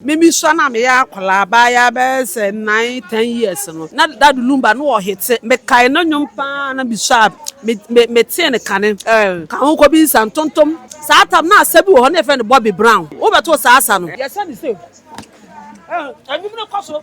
Me me sua no a meyɛ akwadaa bɛayɛ bɛyɛ sɛ nine ten years no na dad lumba no wɔ hete me kae no nwom paa na me sua me me me tee no kane eh ka ho kɔ bi nsa ntontom saa tam na asa bi wɔ hɔ na yɛfrɛ no Bobby Brown wo bɛto saa asa no yɛsɛ ne safe eh nwom no kɔ so.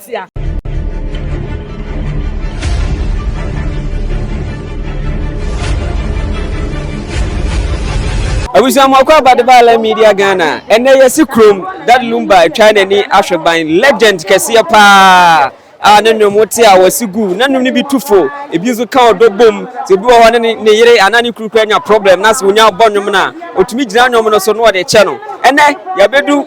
atia. abusuamoakɔ abadebala media ghana ɛnɛ yɛsi kurom dad lumba atwa n'ani ahwɛ ban legend kɛseɛ paa a ne nnwom te a wɔsi gu na nnwom no bi tu fo ebi nso ka ɔdɔ bom sɛ ebi wɔ hɔ ne ne yere anaa ne kuru kura nya problem na sɛ onya bɔ nnwom no a otumi gyina nnwom no so na ɔde kyɛ no ɛnɛ yɛbɛdu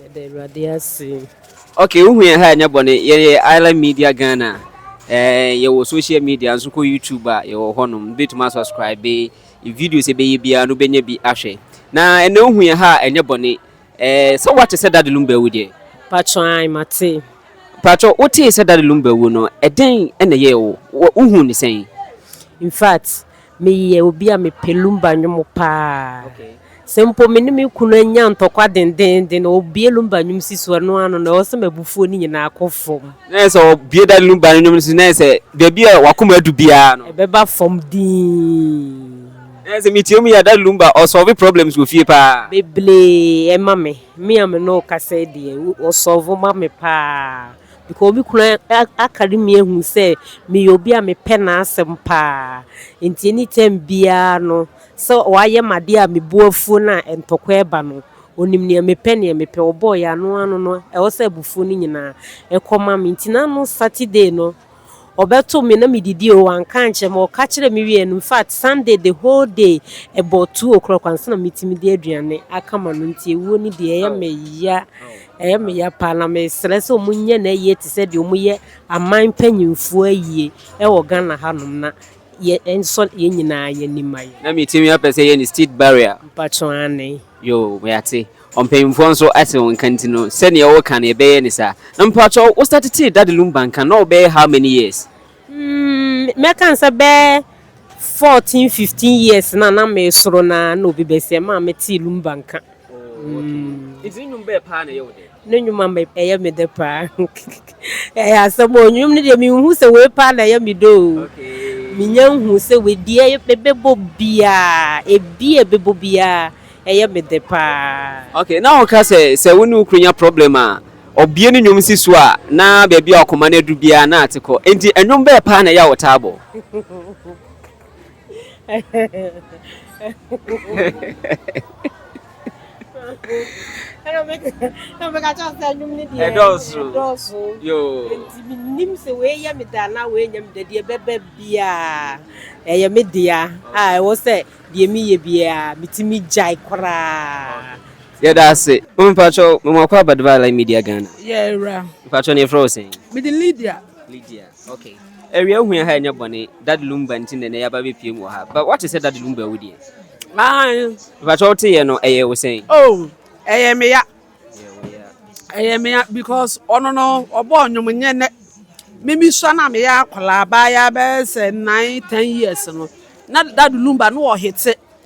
Yɛda Awurade ase. Ok wohu yɛn ha ɛnyɛ bɔne yɛyɛ island media Ghana eh, yɛwɔ social media nso kɔ YouTube a yɛwɔ hɔnom wobɛtumi asubscribe videos ɛbɛyɛ biara no wobɛnya bi ahwɛ na ɛnɛ wohu yɛn ha ɛnyɛ bɔne eh, sɛ woate sɛ Daddy Lumba awu deɛ Patro an mate. Patro wotee sɛ Daddy Lumba awu no ɛdɛn ɛna ɛyɛɛ wo wohuu ne sɛn? In fact Meyɛ obi a mepɛ lumba nnwom paa. Sɛ mpo me ne me kunu anya ntɔkwa dendeenden a, ɔbue lumba nnwom si so a, ɛno ara no na ɛwɔ sɛ m'abufuo no nyinaa kɔ fam. Na ɛyɛ sɛ ɔbue da lumba no nnwom no so na ɛyɛ sɛ baabi a w'akoma adu biara no. Ɛbɛba fam dinn. Na ɛyɛ sɛ metie mu yɛ a, da lumba ɔsɔlve problems wɔ fie paa. Bebree ɛma me. Me a me ne wo kasa yi deɛ, ɔsɔlve ma me paa. Nka obi kunu akari me ahu sɛ meyɛ obi a mepɛ n'asɛm paa. Nti anytime biara no sɛ wayɛ me adeɛ a me bo afuo no a ntɔkwa ɛba no. Onim nea mepɛ nea mepɛ ɔbɔɔ yɛ ano ano no ɛwɔ sɛ abufuo no nyinaa ɛkɔ ma me. Nti na no Saturday no Ɔbɛto me na medidi o, wanka ankyerɛ me, ɔka kyerɛɛ me wieɛ no, infact Sunday the whole day about two o'clock ansa na metumi de aduane aka ma no nti ewuo no deɛ ɛyɛ me ya, ɛyɛ me ya paa na mesrɛ sɛ wɔnyɛ no ayie te sɛ deɛ wɔyɛ aman mpanyinfoɔ ayie ɛwɔ Ghana hanom na yɛnsɔ yɛn nyinaa yɛn ani ma yɛn. Na me timi apɛ sɛ yɛ ne state barrier. Mpatsɔ aane. Yoo yɛate. Ɔmpanyimfoɔ nso ate wo nka nti no sɛdeɛ wo ka no yɛbɛyɛ ne saa. Na mpatsɔ wo starte tee Daddy Lumba nka no na ɔbɛyɛ how many years? Umm mɛka no sɛ bɛyɛ fourteen fifteen years no a na mesoro no ara na obi bɛsi ɛmaa metee Lumba nka. Ne nnwuma ma ɛyɛ me dɛ paa. Ɛyɛ asɛm o, nnwom no deɛ menhu sɛ wei paa na ɛyɛ me dɛ o. Menya nhu sɛ wei deɛ mebɛbɔ biara, ebi a ɛbɛbɔ biara ɛyɛ me dɛ paa. Okay, na woka sɛ sɛ wo ne wo kunu nya problem a, ɔbue ne nnwom si so a, na baabi a ɔkoma no aduru biara na ate kɔ. Enti nnwom bɛɛ paa na ɛyɛ a wotaa bɔ? ɛdɔɔso nti menim sɛ wɔyɛ me da na wɔanya me da deɛ ɛbɛba biaa ɛyɛ me dea a ɛwɔ sɛ deɛ meyɛ biaa metumi gyae koraa yɛda ase mpakyɛ mewakɔ abadeba ala media ghana yɛwura mpakyɛ ne ɛfrɛ wo sɛn mede lydia lydia Ok awia hu yɛn ha ɛnyɛ bɔne dad lumba nti na ɛnɛ yaba bɛpie mu wɔ ha but wate sɛ dad lumba awu deɛ mpakyɛ wote yɛ no ɛyɛ wo sɛn oh ɛyɛ me ya ɛyɛ me ya because ɔno no ɔbɔ ɔnwom nyɛ nɛ mimi sua na me yɛ akɔla abaa yɛ abɛyɛ sɛ nine ten years no na dad lumba no ɔhete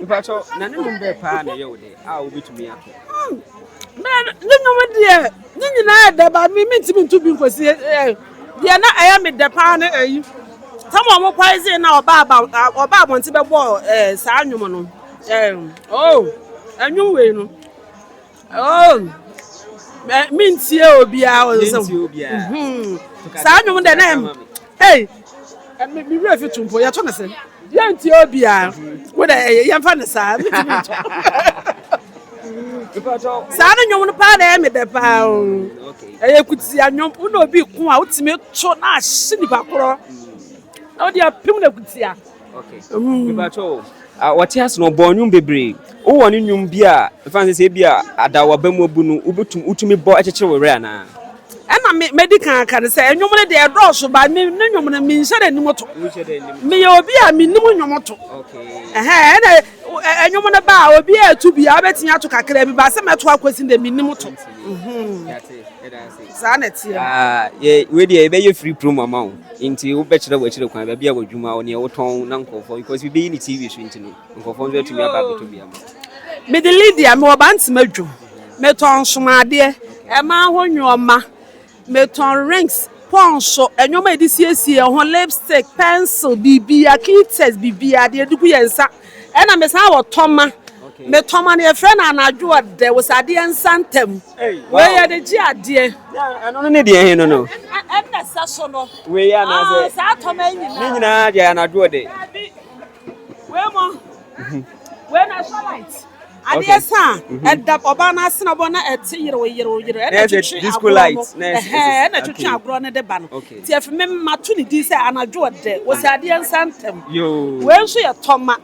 Mpatsɔ na ne nom bɛɛ paa na ɛyɛ wo dɛ a wobɛtumi ato? Ne nom deɛ ne nyinaa yɛ dɛ ba me mentumi nto bi nkɔsi deɛ na ɛyɛ me dɛ paa ne ayi sɛ ma ɔmo kwae dze na ɔba aba ɔba abɔnten bɛbɔ saa nnwom no ɛɛ oo ɛnwom wei no Oh, me me ntie obiara wɔ nsɛm. Mentie obiara. Mhm. To kasa Saa nnwom dɛ na kasa ɛm. ma me. Ei, ɛ- me me werɛ fi to mpo yɛto no sɛ yɛntie obiara. Wo dɛ ɛyɛ yɛmfa no saa. Mentumi nto. Mepatɔ wo. Saa ne nnwom no paa na ɛyɛ me dɛ paa o. Mm, okay. Ɛyɛ kutia nnwom. Wo na obi ko a wotumi to na ahye nipa korɔ. Na wode apem no akutia. Okay. Mm. Bibacho, uh, wɔte ase no ɔbɔ nnwom bebree. Wowɔ ne nnwom bi a mfa nsɛ sɛ ebi a adawa ba mu abu no wobɛtum wotumi bɔ kyekyere wo werɛ anaa? Ɛna mɛdi kan aka no sɛ nnwom no deɛ ɛdɔɔso ba ne nnwom no menhyɛ dɛ nim to. Meyɛ obi a menim nnwom to. Ɛna nnwom no ba a obi a ɛto bi a wobɛtumi ato kakra bi ba sɛ mɛto akɔsi dɛ menim to. Saa na ɛteɛ. Ah, yɛ, wei deɛ yɛbɛyɛ free promo ama wo. Nti wobɛkyerɛ w'akyire kwan, baabi a w'adwuma wɔ, neɛ wotɔn na nkurɔfoɔ, because bi bɛyi ne TV so nti no, nkurɔfoɔ nso atumi aba abɛtɔ bi ama wo. Mede Lydia, mewɔ Bantama dwom, metɔn nsomadeɛ, mmaa ho nnoɔma, metɔn rings, pɔnso, nnoɔma a yɛde siesie yɛn ho, lipstick, pencil, biribiara, clitters, biribiara, deɛ yɛde gu yɛn nsa. Ɛna me san wɔ tɔma. Me tɔma no yɛ frɛ no anadwo a dɛ wosɛ adeɛ nsa ntɛm. Wei yɛ de gye adeɛ. Ɛno no ne deɛ he no no. Ɛna sɛ so no. Wei yɛ anaasɛ. Aa saa tɔma yi nyinaa. Ne nyinaa deɛ anadwo dɛ. Daabi. Wei mo. Wei na ɛsɔ light. Adeɛ sa a ɛda ɔbaa no asene ɔbɔ na ɛte yerew yerew yerew ɛna ɛtwetwe agorɔ no ɛhɛn ɛna ɛtwetwe agorɔ no de ba no nti ɛfi me mato ne din sɛ anadwo ɔdɛ wɔsi adeɛ nsa ntɛm wei nso yɛ tɔma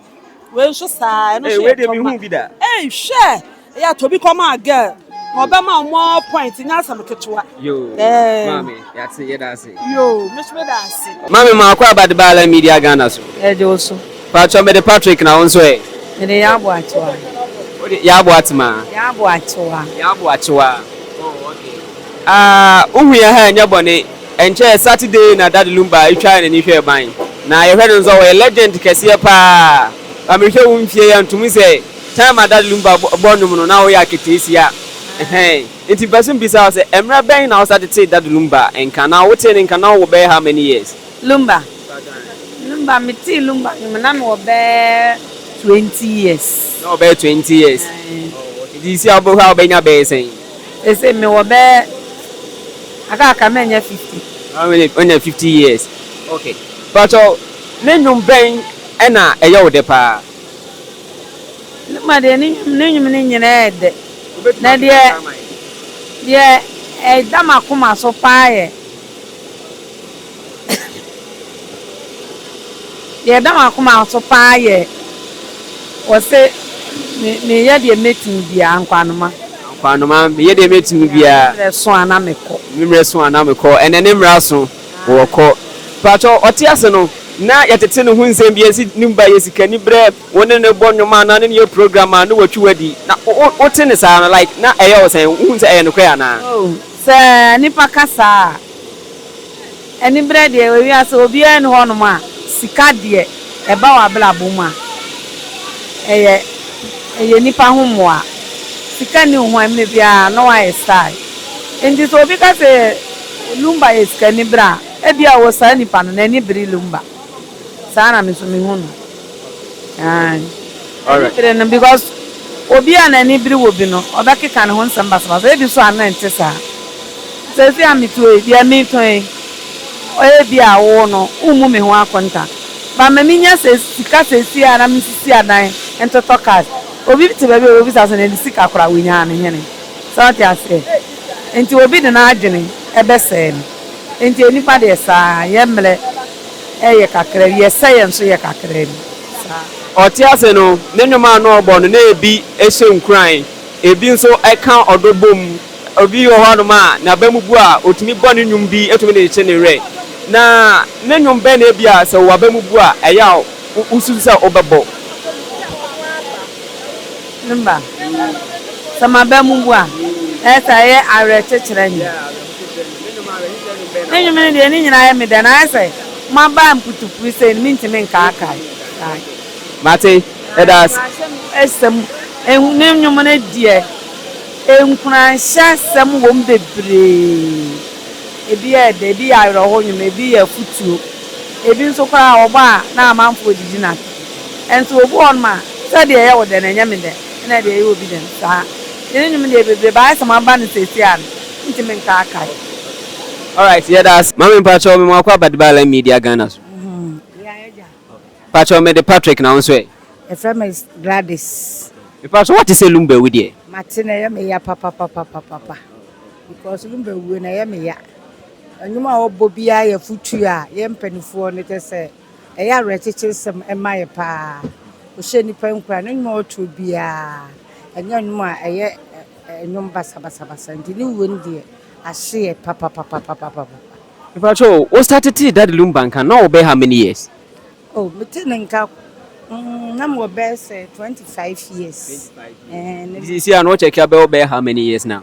wei nso saa ɛno nso yɛ tɔma ɛyi hwɛ ɛyɛ atɔ bi kɔma girl. Ɔbɛma wo more point nyɛ asɛm ketewa. Yoo, eh. maame, yɛate, yɛda ase. Yoo, me nso meda ase. Maame maakɔ aba de ba Alan Media Ghana so. Yɛgye wo so. Paatwɔ mede Patrick na wo nso ɛ? Mede Yaabo Akyewaa. Wode Yaabo Atemaa? Yaabo Akyewaa. Yaabo Akyewaa, oh okay. Ah, wohu yɛn ha ɛnyɛ bɔne. Ɛnkyɛɛ Saturday na Daddy Lumba twaa yɛn ani hwɛɛ ban. Na yɛhwɛ no nso a ɔyɛ legend kɛseɛ paa. Ba mehwɛ wo mfie yi a nto mu sɛ. Time a Dad Lumba bɔɔ nnwom no, na ɔyɛ aketeesia. Ɛhɛn. Enti mepɛ sɛ mibisa wo sɛ, mmere bɛn na wosan de tee Dad Lumba nka, na wotee ne nka no wɔ bɛyɛ how many years? Lumba? Lumba, metee Lumba nnwom na mewɔ bɛyɛ twenty years. Na ɔwɔ bɛyɛ twenty years. Ɛhɛn. Enti seesei a wobɛhwɛ a wobɛnya bɛyɛ sɛn? Seesei mewɔ bɛyɛ, aka aka manya fifty. How many? Woanya fifty years. Okay. Pakyɛw, ne nnwom bɛn na ɛyɛ wo dɛ paa? Ne ma deɛ ne nnwom ne nnwom no nyinaa yɛ dɛ. Na deɛ deɛ ɛda m'akoma so paa yɛ deɛ ɛda m'akoma so paa yɛ wɔse me meyɛ deɛ mɛtumi biara Nkwanoma. Nkwanoma, meyɛ deɛ mɛtumi biara. Mmerɛ so a na mekɔ. Mmerɛ so a na mekɔ. Ɛnɛ ne mmara so. wɔkɔ. Pakyɛw, ɔte ase no, na yɛtete ne ho nsɛm bi asi ne mu ba yɛ sikaniberɛ, wo ne no bɔ nnwom anaa ne no yɛ program a, na watwi wo adi. Na wote ne saa no, like, na ɛyɛ wo sɛn? Wuhu sɛ ɛyɛ nokorɛ anaa? Oh, sɛ nnipa ka saa a, aniberɛ deɛ, wɔ wiase ha, obiara nni hɔnom a sika deɛ ɛba w'abrabɔ mu a, ɛyɛ, ɛyɛ nnipa ho mmoa. Sika nni wo ho a, mmerɛ biara na woayɛ style. Enti sɛ obi ka sɛ. Lumba yɛ sikani bere a ebia ɔwɔ saa nipa no n'ani bere lumba saa na me nso me hu no aah ani bere no because obi a n'ani bere wɔ bi no ɔbɛkeka ne ho nsɛm basabasa ebi nso a na ɛnte saa sɛsi a me tuo yi deɛ me tɔn yi ɔyɛ bi a wo no wo mmu me ho akonta but ma me nya sɛ sika sɛsi a na me sisi adan ntotɔ cars obi te baabi a ɔbɛbisa sɛ na ne sika kora wo nyaa me hene. So ate aseɛ? Enti obi de n'adwene bɛsɛe no. Enti nnipa deɛ saa ara, yɛn mmerɛ yɛ kakra bi, yɛn sɛeɛ nso yɛ kakra bi. Saa. Ɔte ase no, ne nnwom a na ɔbɔ no, na ebi hyɛ nkuran, ebi nso ka ɔdɔ bom. Obi wɔ hɔnom a, n'abamu bu a, otumi bɔ ne nnwom bi tumi de kyekye ne werɛ. Na ne nnwom bɛn na ebia sɛ w'abamu bu a, ɛyɛ a wususu sɛ wobɛbɔ? Ne mma. Sɛ m'aba mu bu a, ɛyɛ sɛ ɛyɛ awerɛkyekyerɛ nnwom. Ne nnwom no deɛ, ne nyinaa yɛ me dɛ, na ayɛ sɛ moaba mputupui sei no, mentumi nkaakae. Mate, ɛda ase. Nkuranhyɛm asɛm, ne nnwom no deɛ, nkuranhyɛ asɛm wom bebree. Ebi yɛ dɛ, ebi yɛ awerɛhow nnwom, ebi yɛ afotuo, ebi nso koraa wɔbɔ a na amanfoɔ redidi no ase. Nso obi wɔ hɔnom a, sɛ deɛ ɛyɛ wo dɛ no, ɛnyɛ me dɛ, ɛna deɛ ɛyɛ obi dɛ no, saa. Nti ne nwom deɛ bebree baa ayɛ sɛ maba no seesei a no, mentumi nkaakae. Alright, yɛda ase. Mame mpakyɛw mema wakɔ aba Dbala Media Ghana so. Yea agya. Mpakyɛw mede Patrick na wo nso ɛ? Yɛfrɛ me Gladys. Mepakyɛw woate sɛ Lumba awu deɛ? Mate na ɛyɛ me ya papapapapapa because Lumba awuo no ɛyɛ me ya. Nnwom a ɔbɔ biara yɛ afutuo a yɛn mpanifoɔ no kyɛ sɛ Ɛyɛ awerɛkyekyesɛm ma yɛn paa. Ɔhyɛ nnipa nkuran. Ne nnwom a ɔto biara, ɛnyɛ nnwom a ɛyɛ nnwom basabasabasa nti ne wuo no deɛ ahye yɛn papapapapapa. Mepakyɛ o, wo starte tee Daddy Lumba nka no na wo wɔ bɛyɛ how many years? Oh, me tee no nka mm, na me wɔ bɛyɛ sɛ 25 years. Nti seesei a na wo check a bɛwɔ bɛyɛ how many years now?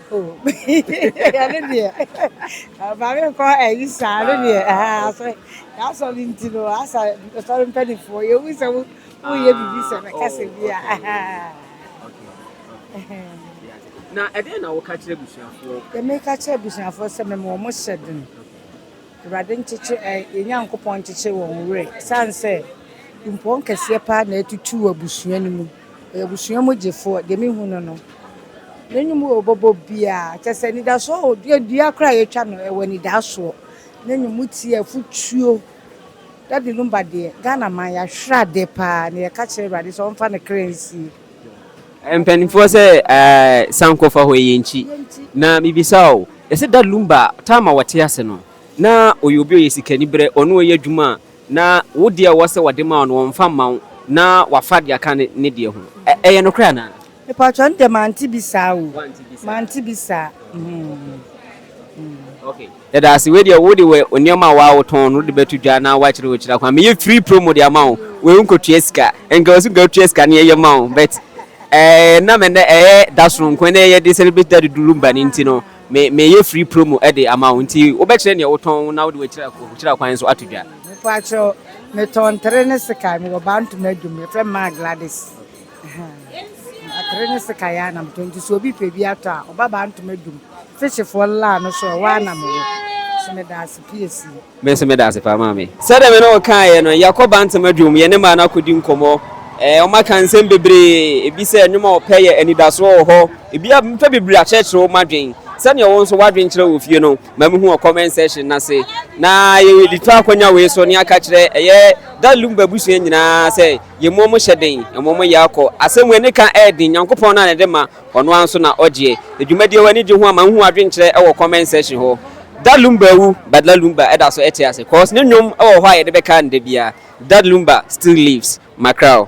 Oh, ɛno deɛ ma me nkɔ ayi saa no deɛ ah, asɛ yɛasɔ no nti no asa sɔre mpanimfoɔ yɛwu sɛ wo- woyɛ biribi sɛ bɛka sɛ bi a ah. na ɛdeɛn na woka kyerɛ abusuafoɔ yɛmeka kyerɛ abusuafoɔ sɛ mema ɔmo hyɛ den Awurade nkyekye ɛ, yɛn Nyankopɔn nkyekye wɔn werɛ, ɛsiane sɛ kumpɔn kɛseɛ paa na atutu wɔ abusua no mu. Ɔyɛ abusua mu gyefoɔ, deɛ mehu no no, ne nnwom a ɔbɔbɔ biara, kyerɛ sɛ anidasoɔ wɔ, dua dua koraa a yɛtwa no, ɛwɔ anidaasoɔ. Ne nnwom mu teɛ, afutuo. Daddy Lumba deɛ, Ghana man, yɛahwere adeɛ paa, na yɛka kyerɛ Awurade sɛ ɔmfa ne kra nsie. Mpanimfoɔ sɛ ɛɛɛ sankɔfa hɔ yi yɛ nkyi na me bisa wo yɛsɛ da lumba time a wɔte ase no na ɔyɛ obi ɔyɛ sikani berɛ ɔne ɔyɛ adwuma a na wo deɛ ɛwɔ sɛ wɔde ma wo no wɔnfa mma wo na wafa deɛ aka ne deɛ ho ɛyɛ nokorɛ anaa. Mepaatwɔ no deɛ mante bi saa o mante bi saa. Yɛda ase. Wei deɛ wode wɔ nneɛma a waa wotɔn no wode bɛto dwa na wakyerɛ wo kyerɛ kwan. Meyɛ free promo de ama wo. Wei wo nkɔtua sika. Nka ɔse nka wotua sika na yɛyɛ ma wo but ɛɛ nam ɛnɛ ɛyɛ dasoro nko ɛnɛ yɛde celebrate da de Durumba no nti no me meyɛ free promo ɛde ama wo nti wobɛkyerɛ neɛ wotɔn na wode wakyira kyira kwan nso ato dwa. Mepakyɛw, metɔn tere ne sekai, mewɔ baa ntoma adwom, yɛfrɛ me maa Gladys. Ahaa atere ne sekan ara na metɔ nti sɛ obi pɛ bi atɔ a ɔba baa ntoma dum fishfoɔ no laa no so a ɛhɔ ara na mewɔ so meda ase piesie. Me nso meda ase paa maame. Sɛdeɛ me ne wo kaeɛ no, yɛkɔ ba ntoma dwom, yɛne mmaa no akɔdi nkɔmmɔ. Ɛɛ, wɔaka nsɛm bebree. Ebi sɛ nnwom a wɔpɛ yɛ anidasoɔ wɔ hɔ. Ebi a mepɛ bebree akyerɛkyerɛ wo m'adwene. Sɛdeɛ wo nso w'adwene kyerɛ wɔ fie no, ma mehu wɔ comment section no ase. Na yɛde to akɔnya wei so na yɛaka akyerɛ ɛyɛ Dalumba abusua nyinaa sɛ Yɛmmuo mo hyɛ den, mmom mo yɛ akɔ. Asɛm wei ne ka ɛyɛ den, Nyankopɔn no ara na ɛde ma, Ɔno ara nso na Ɔgyeɛ. Edwumadie w'ani gye ho a ma nhu adwenkyerɛ ɛwɔ comment section hɔ. Dad Lumba awu, but La Lumba ɛda so ɛte ase, cause ne nnwom ɛwɔ hɔ a yɛde bɛka no da biara, Dad Lumba still lives, Macrao.